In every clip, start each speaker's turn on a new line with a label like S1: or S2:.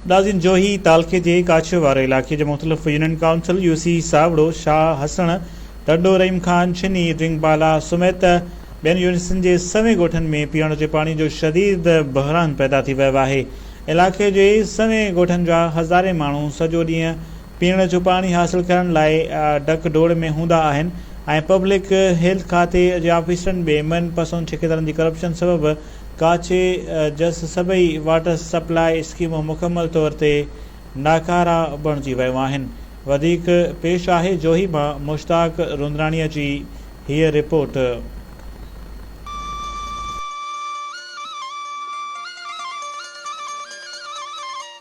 S1: ڏازين جوهي تعلقي جي ڪاڇ واري علائقي جي مختلف union council U C Sawro, Shah Hassan, Tando Rahim Khan, Chhini, Darang بالا سميت ٻين يونٽن جي سوين ڳوٺن ۾ پيئڻ جي پاڻي جو شديد بحران پيدا ٿي ويو آهي. علائقي جي سوين ڳوٺن جا هزارين ماڻهو سڄو ڏينهن پيئڻ جو پاڻي حاصل ڪرڻ لاء ڊڪ ڊوڙ ۾ هوندا آهن ۽ پبلڪ هيلٿ کاتي جي آفيسرن ٻي من پسند ٺيڪيدارن جي ڪرپشن سبب ڪاڇي جس سڀئي واٽر سپلاء اسڪيمون مڪمل طور تي ناڪارا بڻجي ويون آهن. وڌيڪ پيش آهي جوهي مان مشتاق روندراڻيء جي هيء رپورٽ.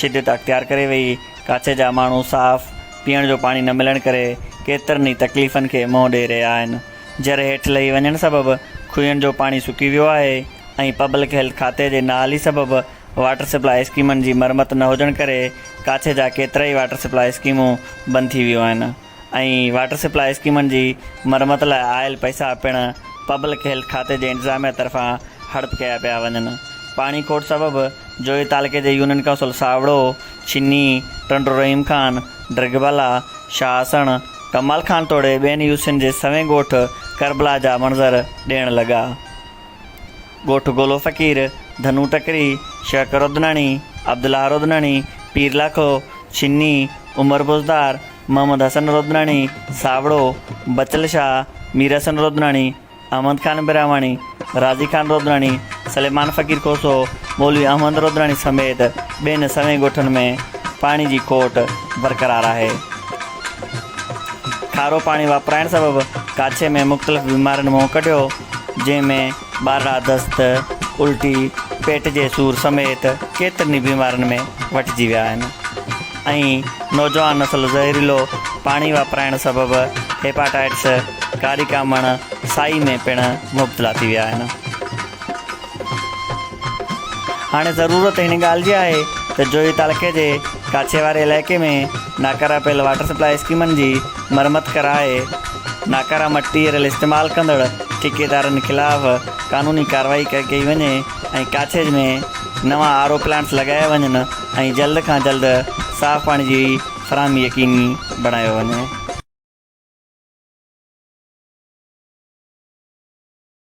S2: شدت اختيار ڪري وئي، ڪاڇي جا ماڻهو صاف پيئڻ جو پاڻي نه ملڻ ڪري ڪيترن ئي تڪليفن کي منهن ڏئي رهيا آهن، جر هيٺ لهي وڃڻ سبب کوهين جو پاڻي سڪي ويو آهي ۽ پبلڪ هيلٿ کاتي جي نااهلي سبب واٽر سپلاء اسڪيمن جي مرمت نه هجڻ ڪري ڪاڇي جا ڪيترائي واٽر سپلاء اسڪيمون بند ٿي ويون آهن. ۽ واٽر سپلاء اسڪيمن جي مرمت لاء آيل پئسا پڻ پبلڪ هيلٿ کاتي جي انتظاميا طرفان هڙپ ڪيا پيا وڃن، پاڻي کوٽ سبب جويي تعلقي جي يونين ڪائونسل ساوڙو، ڇني، ٽنڊو رحيم خان، ڊرگهبالا، شاهاسڻ، ڪمال خان توڙي ٻين يو سين جي سوين ڳوٺ ڪربلا جا منظر ڏيڻ لڳا. ڳوٺ گولو فقير، ڌنو ٽڪري، شهڪر رودناڻي، عبدالله رودناڻي، پيرلاکو، ڇني، عمر بوزدار، محمد حسن رودناڻي، ساوڙو، بچل شاهه، مير حسن رودناڻي، احمد خان براهواڻي، راضي خان رودناڻي، سليمان فقير کوسو، مولوي احمد رودناڻي سميت ٻين سوين ڳوٺن ۾ پاڻي جي کوٽ برقرار آهي. کارو پاڻي واپرائڻ سبب ڪاڇي ۾ مختلف بيمارين منهن ڪڍيو جنهن ۾ ٻارڙا دست، الٽي، پيٽ جي سور سميت ڪيترن ئي بيمارين ۾ وٺجي ويا آهن ۽ نوجوان نسل زهريلو پاڻي واپرائڻ سبب هيپاٽائيٽس، ڪاري ڪامڻ، سائي ۾ پڻ مبتلا ٿي ويا آهن. هاڻي ضرورت هن ڳالهه جي آهي ته جويي تعلقي جي ڪاڇي واري علائقي ۾ ناڪارا پيل واٽر سپلائي اسڪيمن جي مرمت ڪرائي ناڪاره مٽيريل استعمال ڪندڙ ٺيڪيدارن خلاف قانوني ڪارروائي ڪئي وڃي ۽ ڪاڇيج ۾ نوان آر او پلانٽس لڳايا وڃن ۽ جلد کان جلد صاف پاڻي جي فراهمي يقيني بڻايو وڃي.